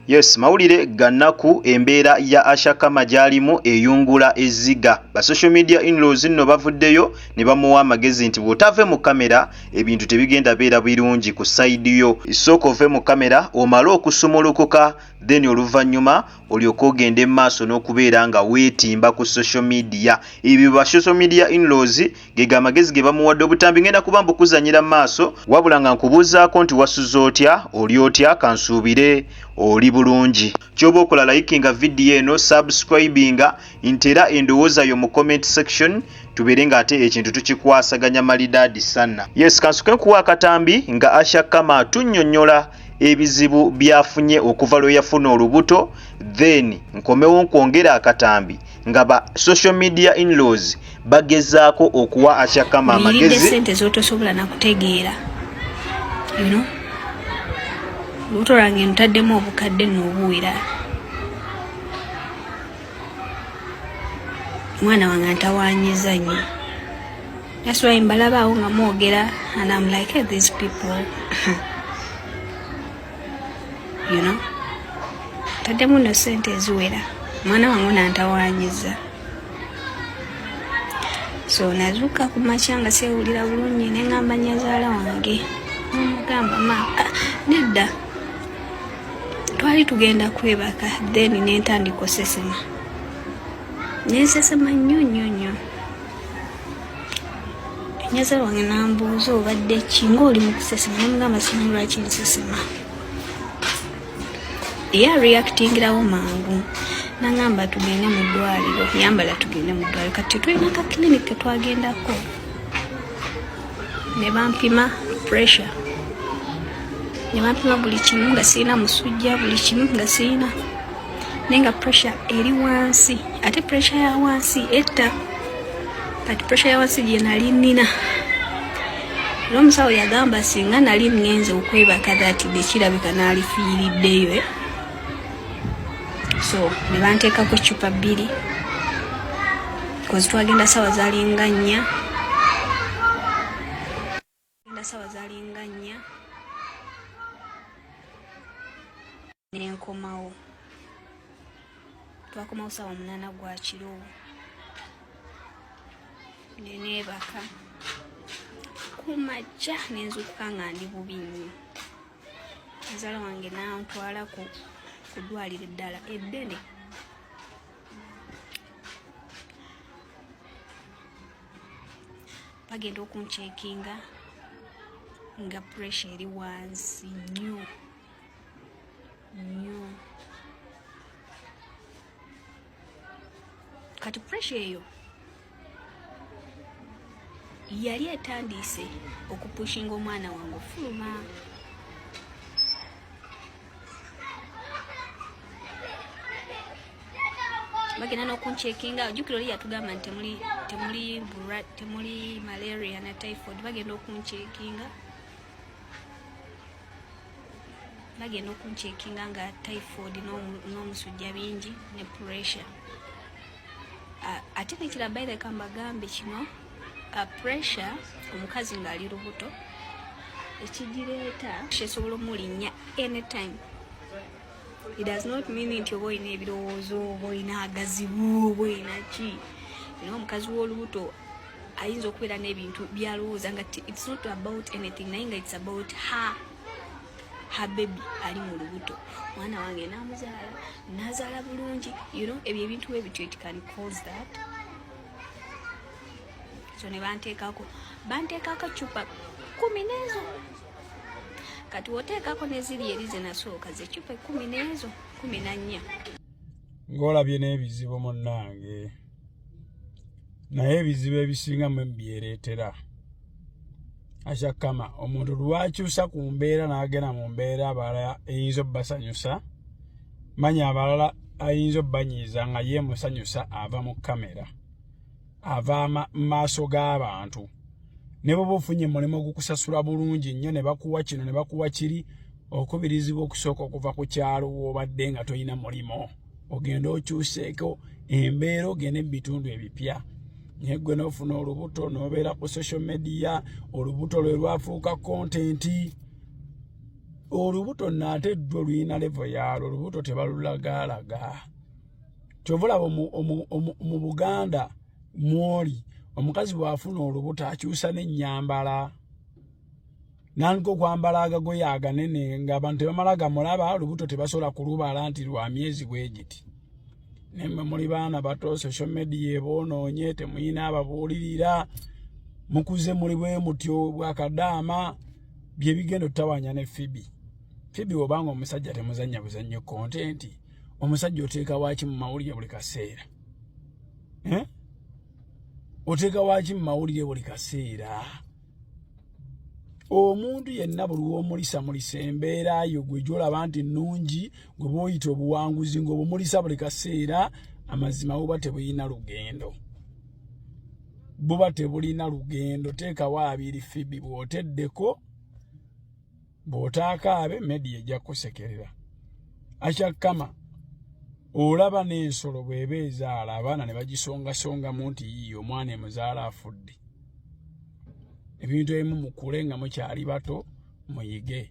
Yes mawulire ganaku embeera ya Ashakama gyalimu eyungula ezziga. Ba social media inlaws nno bavuddeyo nebamuwa amagezi nti bwotave mu camera ebintu tebigenda beera birungi ku side yo. Sooka ove mu camera omale okusumulukuka then oluvanyuma olyoke ogende mu maaso nokubeera nga wetimba ku social media. Ebyo ba social media inlaws Gego amagezi ge bamuwadde obutambi ngenda kuba mbukuzanyira mu maaso wabula nga nkubuuzaako nti wasuze otya, oli otya, kansuubire oli bulungi. Kyoba okola likinga video eno, subscribinga nti era endowooza yo mu comment section tubeere nga ate ekintu tukikwasaganya malidaadi sana. Yes kansuke nkuwe akatambi nga Asha Kama atunyonyola ebizibu byafunye okuva lweyafuna olubuto then nkomewo nkwongere akatambi. nga ba social media inlaws bagezaako okuwa ashakama amagezi sente zotosobola nakutegeera you know lubuto lwange ntaddemu obukadde nobuwera omwana wange ntawanyiza nyo that's why mbalabaawo nga mwogera and am like hey, these people you know taddemu no sente eziwera mwana wange nantawanyiza so nazuuka ku makya nga sewulira bulungi nengamba nyazaala wange nomugamba ma ah, nedda twali tugenda kwebaka then nentandika osesema nensesema nnyo nnyo nnyo nyaza wange nambuuza obadde ki ngaoli mukusesema namugamba simanyi lwaki nsesema ye areactingirawo mangu nangamba tugende mu ddwaliro yambala tugende mu ddwaliro kati tetulina ka clinic ketwagendako ne bampima pressure ne bampima buli kimu nga sirina musujja buli kimu nga sirina naye nga pressure eri wansi ate pressure ya wansi etta kati pressure ya wansi gye nali nnina era omusawo yagamba singa nali ngenze okwebaka dati dekirabika naalifiiriddeyo eh? so ne banteekako eccupa bbiri kozi twagenda sawa zalinga nnya Nasawa zalinga nnya nenkomawo twakomawo sawa munana gwa kiro neneebaka kumajja nenzukuka nga ndi bubi nnyo muzaala wange nantwala ku ddwaliro eddala eddene bagenda okuncekinga nga puresha eri wansi nyo nyo kati puresha eyo yali etandiise okupushinga omwana wange ofuluma bagenda n'okuncekinga jukira oli yatugamba nti temuli temuli bura temuli malaria na typhoid bagenda okuncekinga bagenda okuncekinga nga typhoid n'omusujja bingi ne pressure ate nekira baireka mbagambe kino pressure omukazi ng'ali lubuto ekigireeta kyesobola omulinnya anytime it does not mean nti oba olina ebirowoozo oba olina agazibu oba olina ki era omukazi w'olubuto ayinza okubeera n'ebintu byalowooza nga it's not about anything naye nga it's about her habebi ali mu lubuto mwana wange namuzaala nazaala bulungi you know ebyo ebintu webityo it can cause that so ne banteekako banteekako cupa kumi nezo kati woteekako neziri eri zenasooka zecupa ekumi nezo kumi nannya ng'olabye n'ebizibu munnange naye ebizibu ebisinga mwe byereetera akyakama omuntu lwakyusa ku mbeera n'agenda mu mbeera abalala eyinza obbasanyusa manya abalala ayinza obbanyiiza nga ye musanyusa ava mu kamera ava mu maaso g'abantu ne bwoba ofunye mulimu ogukusasula bulungi nnyo ne bakuwa kino ne bakuwa kiri okubirizibwa okusooka okuva ku kyalo woobadde nga tolina mulimu ogenda okyuseeko embeera ogende mu bitundu ebipya naye gwe n'ofuna olubuto n'obeera ku social media olubuto lwe lwafuuka kontenti olubuto naate ddwo lulina levo yaalwo olubuto tebalulagaalaga kyova olaba mu buganda mwoli omukazi bw'afuna olubuto akyusa n'ennyambala nandika okwambala agagoye aganene ngaabantu tebamala gamulaba lubuto tebasobola kulubala nti lwa myezi bwegiti nemwe muli baana bato social media ebonoonye temuyina ababuulirira mukuze muli bwe mutyo bwakadaama bye bigenda otutawanya ne fibi fibi obanga omusajja temuzannya buzannyo kontenti omusajja oteeka waaki mu mawulire buli kaseera eh? oteeka waaki mu mawulire buli kaseera omuntu yenna buli womulisa mulisa embeera yo gwe gyolaba nti nnungi gwe booyita obuwanguzi ngaobumulisa buli kaseera amazima buba tebulina lugendo buba tebulina lugendo teekawo abiri fibi bwoteddeko bw'otaakaabe media ejja kukusekerera akyakkama olaba n'ensolo bw'eba ezaala abaana ne bagisongasongamu nti yiiyo omwana emuzaala afudde ebintu ebimu mukule nga mukyali bato muyige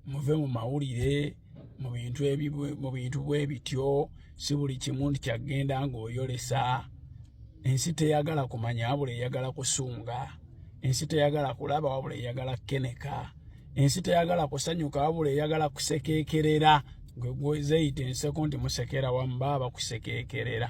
muve mu mawulire mu bintu mu bintu bwe bityo si buli kimu nti kyagenda ng'oyolesa ensi teyagala kumanya wabula eyagala kusunga ensi teyagala kulaba wabula eyagala kukeneka ensi teyagala kusanyuka wabula eyagala kusekeekerera gwe gwezeyita enseko nti musekera wamu baba bakusekeekerera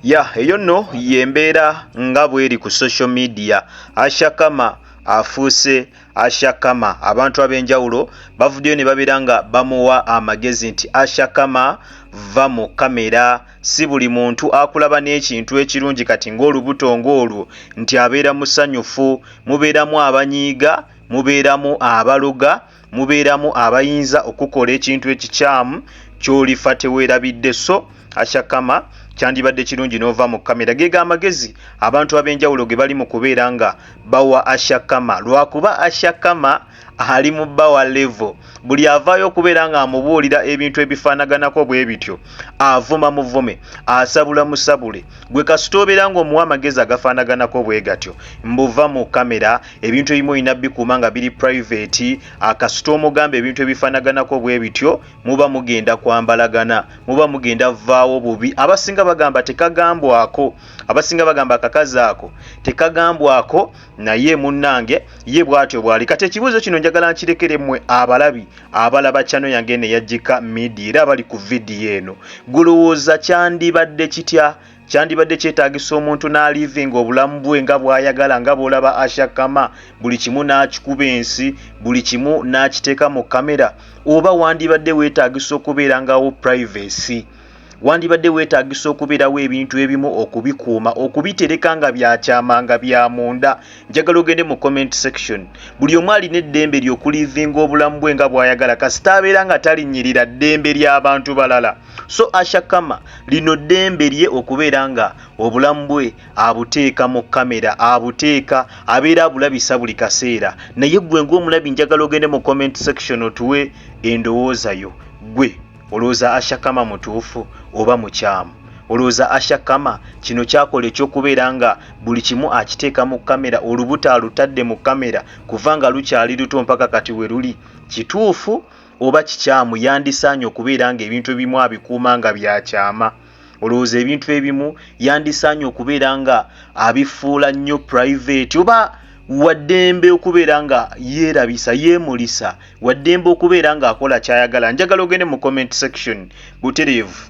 ya eyo nno y'embeera nga bw'eri ku social media ashakama afuuse ashakama abantu ab'enjawulo bavuddeyo ne babeera nga bamuwa amagezi nti ashakama vva mu kamera si buli muntu akulaba n'ekintu ekirungi kati ng'olubuto ng'olwo nti abeera musanyufu mubeeramu abanyiiga mubeeramu abaloga mubeeramu abayinza okukola ekintu ekikyamu kyolifa tewerabidde so ashakama kyandibadde kirungi nova mu kamera gega amagezi abantu ab'enjawulo ge bali mu kubeera nga bawa ashakama lwakuba ashakama ali mu bawa levo buli avaayo okubeera nga amubuulira ebintu ebifaanaganako bwe bityo avuma muvume asabula musabule gwe kasita obeera ngaomuwa amagezi agafaanaganako bwe gatyo mbuva mu kamera ebintu ebimu olina bikuuma nga biri private akasita omugamba ebintu ebifanaganako bwe bityo muba mugenda kwambalagana muba mugenda vvaawo bubi abasinga bagamba tekagambwako abasinga bagamba akakazi ako tekagambwako naye munnange ye bwatyo bwali kati ekibuuzo kino njagala nkirekere mmwe abalabi abalaba kyano yange eno eyajjika midia era abali ku vidiyo eno gulowooza kyandibadde kitya Kyandibadde kyetaagisa omuntu n'alivinga obulamu bwe nga bw'ayagala nga bw'olaba Asha Kama buli kimu n'akikuba ensi, buli kimu n'akiteeka mu kkamera? Oba wandibadde weetaagisa okubeerangawo privacy? Wandibadde weetaagisa okubeerawo ebintu ebimu okubikuuma, okubitereka nga bya kyama, nga bya munda? Njagala ogende mu comment section. Buli omu alina eddembe lye okulivinga obulamu bwe nga bw'ayagala kasita abeera nga talinnyirira ddembe lya bantu balala. So Asha Kama lino ddembe lye okubeera nga obulamu bwe abuteeka mu kamera, abuteeka abeera abulabisa buli kaseera naye ggwe ng'omulabi njagala ogende mu comment section otuwe endowooza yo. Ggwe olowooza Asha Kama mutuufu oba mukyamu? Olowooza Asha Kama kino kyakola eky'okubeera nga buli kimu akiteeka mu kamera, olubuto alutadde mu kamera kuva nga lukyali luto mpaka kati we luli kituufu? oba kikyamu yandisaanye okubeera ng'ebintu ebimu abikuuma nga bya kyama. Olowooza ebintu ebimu yandisaanye okubeera nga abifuula nnyo purayiveeti oba waddembe okubeera nga yeerabisa yeemulisa waddembe okubeera ng'akola ky'ayagala njagala ogende mu comment section butereevu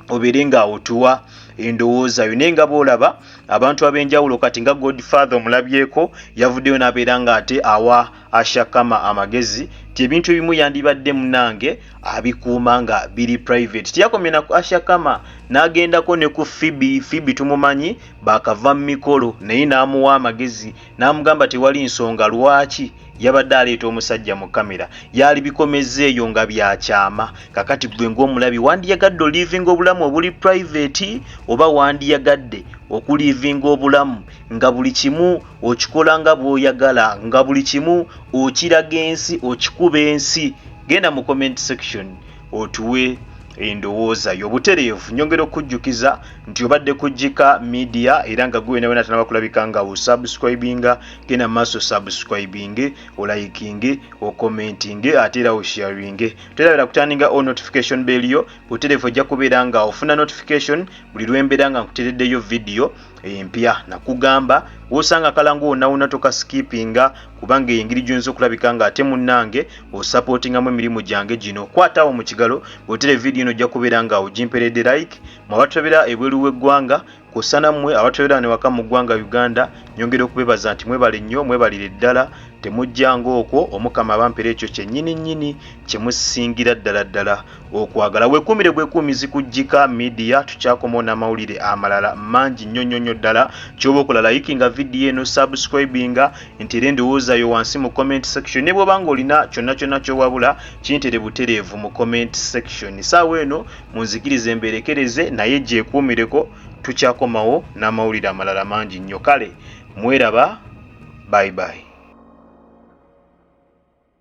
obeere ng'awotuwa endowooza yo naye nga boolaba abantu ab'enjawulo kati nga godfather omulabyeko yavuddeyo n'abeera ng'ate awa ashakama amagezi nti ebintu ebimu yandibadde munange abikuuma nga biri private teyakomye na ashakama n'agendako ne ku fibi fibi tumumanyi bakava mu mikolo naye n'amuwa amagezi n'amugamba tewali nsonga lwaki yabadde aleeta omusajja mu kamera yaali bikomezza eyo nga byakyama kakati gwe ng'omulabi wandiyagadde oliivinga obulamu obuli private oba wandiyagadde okuliivinga obulamu nga buli kimu okikola nga bwoyagala nga buli kimu okiraga ensi okikuba ensi genda mu comment section otuwe endowooza yo butereevu nyongera okujjukiza nti obadde kujjika media era nga gwe nawena tanaba kulabika nga osubscribinga genda maaso subscribinge olayikinge okomentinge ate era osharinge terabera kutandinga o notification bell yo butereevu ojja kubeera nga ofuna notification buli lwembeera nga nkutereddeyo vidiyo empya nakugamba wosanga kalangu wonawona tokasikipinga kubanga eyo engeri gyoyinza okulabika nga ate munange osapotingamu emirimu gyange gino kwataawo mu kigalo bwotera evidiyo eno ojja kubeera nga ogimperedde like mu abatulabira ebweru w'eggwanga kusana mmwe abatulabira newaka mu ggwanga uganda nyongera okubebaza nti mwebale nnyo mwebalire ddala temujjanga okwo omukama abampera ekyo kyennyini nnyini kyemusingira ddala ddala Okwagala wekuumire bwekuumizi ku Gika Media tukyakomawo n'amawulire amalala mangi nnyo nnyo nnyo ddala ky'oba okola layikinga vidiyo eno subscribinga ntere endowooza yo wansi mu comment section ne bw'oba ng'olina kyonna kyonna ky'owabula kintere butereevu mu comment section saawa eno munzikirize mbeerekereze naye gyekuumireko tukyakomawo n'amawulire amalala mangi nnyo kale mweraba bye bye